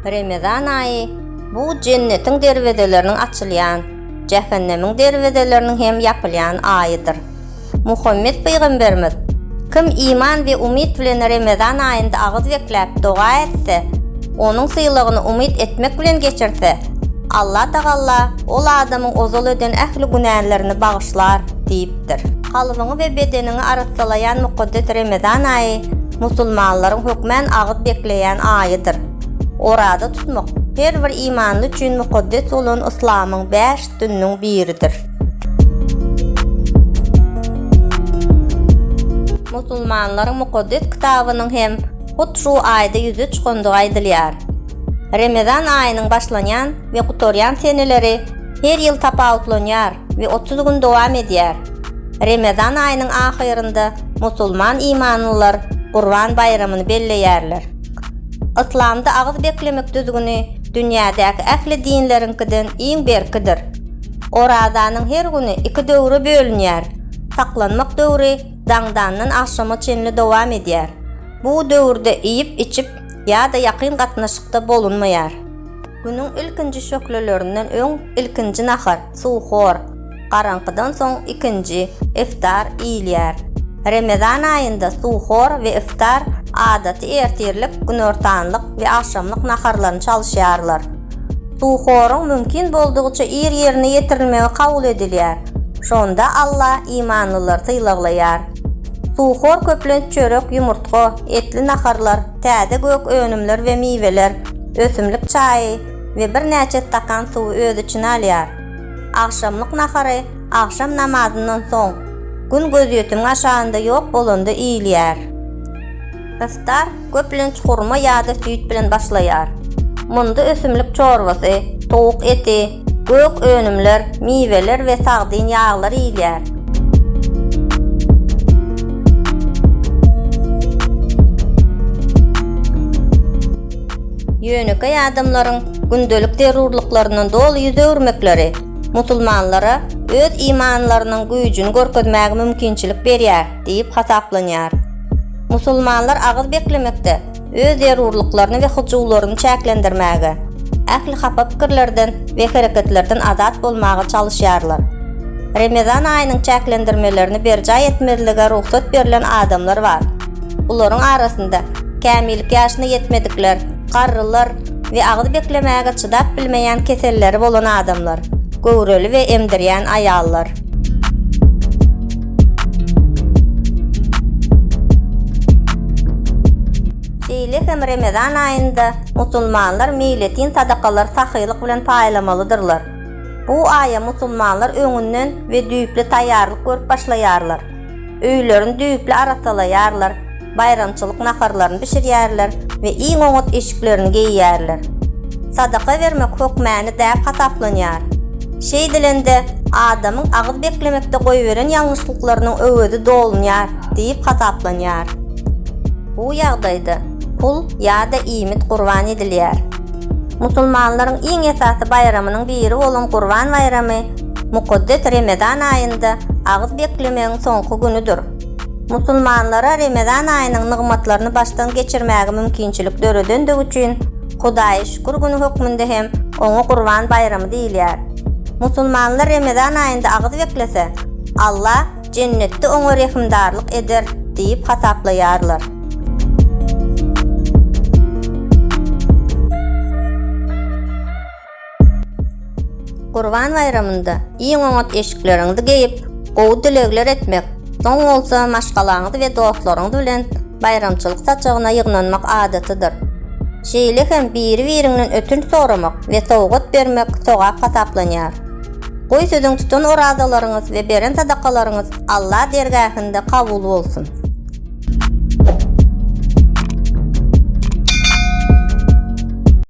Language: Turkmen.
Remezan aýy bu jennetiň derwezeleriniň açylýan, jähennemiň derwezeleriniň hem ýapylýan aýydyr. Muhammet pygamberimiz, Kim iman we umyt bilen Remezan aýynda agyz bekläp doga etse, onuň sylagyny umyt etmek bilen geçirse, Allatagalla ol adamyň ozal eden ähli günälerini bagyşlar diýip, ýetişdiripdir. Kalbyňy we bedeniňi arassalaýan mukaddes Remezan aýy musulmanlaryň hökmän agyz bekleýän aýydyr. Oraza tutmak her bir imanly üçin mukaddes bolan yslamyň bäş dynnyň biridir. Musulmanlaryň mukaddes kitabynyň hem hut şu aýda ýüze çykandygy aýdylýar. Remezan aýynyň başlanýan we gutarýan seneleri her ýyl tapawutlanýar. we otuz gün dowam edýär. Remezan aýynyň ahyrynda musulman imanlylar Gurban baýramyny belleýärler. Yslamda agyz beklemek düzgüni dünýädäki ähli dinleriňkiden iň berkidir. Orazanyň her güni iki döwre bölünýär, saklanmak döwri daňdandan agşama çenli dowam edýär. Bu döwürde iýip-içip ýa-da ýakyn gatnaşykda bolunmaýar. Günüň ilkinji şöhlelerinden öň ilkinji nahar, suhur, garaňkydan soň ikinji, iftar, iýilýär. Remezan aýynda suhur we iftar adaty ertirlik, günortanlyk we agşamlyk naharlaryny çalyşýarlar. Suhuryň mümkin boldugyça ir ýerine ýetirilmegi kabul edilýär, şonda Alla imanlylary sylaglaýar. Suhur köplenç çörek, ýumurtga, etli naharlar, täze gök önümler we miweler, ösümlik çaýy, we birnäçe stakan suwy öz içine alýar. Agşamlyk nahary agşam namazyndan soň, gün gözýetimiň aşagynda ýok bolanda iýilýär. Yftar köplenç hurma ýa-da süýt bilen başlaýar. Munda ösümlik çorbasy, towuk eti, gök önümler, miweler we sagdyn ýaglar iýilýär. Ýönekeý adamlaryň gündelik zerurlyklaryndan doly ýüz öwürmekleri musulmanlara öz imanlarynyň güýjüni görkezmäge mümkinçilik berýär diýip hasaplanýar. Musulmanlar agyz beklemekde öz zerurlyklaryny we hyjuwlaryny çäklendirmäge, ähli hapa pikirlerden we hereketlerden azat bolmaga çalyşýarlar. Remezan aýynyň çäklendirmelerini berjaý etmezlige rugsat berlen adamlar bar. Bularyň arasynda kämillik ýaşyna ýetmedikler, garrylar we agyz beklemäge çydap bilmeýän keselleri bolan adamlar, göwreli we emdirýän aýallar. Şeýle hem Remezan aýynda musulmanlar meýletin sadakalary sahylyk bilen paýlamalydyrlar. Bu aýa musulmanlar öňünden we düýpli taýýarlyk görüp başlaýarlar. Öýlerini düýpli arasalaýarlar, baýramçylyk naharlaryny bişirýärler we iň oňat eşiklerini geýýärler. Sadaka bermek hökmany däp hasaplanýar. Şeýdilende, adamyň agyz beklemekde goýberen ýalňyşlyklarynyň öwezi dolunýar diýip hasaplanýar. Bu ýagdaýda pul ýa-da iýmit gurban edilýär. Musulmanlaryň iň esasy baýramynyň biri bolan Gurban baýramy Mukaddes Remezan aýynda agyz beklemegiň soňky günüdir. Musulmanlara Remezan aýynyň nygmatlaryny başdan geçirmäge mümkinçilik döredendigi üçin Hudaýa şükür güni hökmünde hem oňa Gurban baýramy diýilýär. Musulmanlar Remezan aýynda agyz beklese, Alla Jennetde oňa rehimdarlyk eder diýip hasaplaýarlar. Gurban baýramynda iň oňat eşikleriňizi geýip, gowy dilegler etmek, soň bolsa maşgalaňyz we dostlaryňyz bilen baýramçylyk saçagyna ýygnanmak adatydyr. Şeýle hem biri-biriňden ötünç soramak we sowgat bermek sogap hasaplanýar. Goý siziň tutan orazalaryňyz we beren sadakalaryňyz Alla dergähinde kabul bolsun!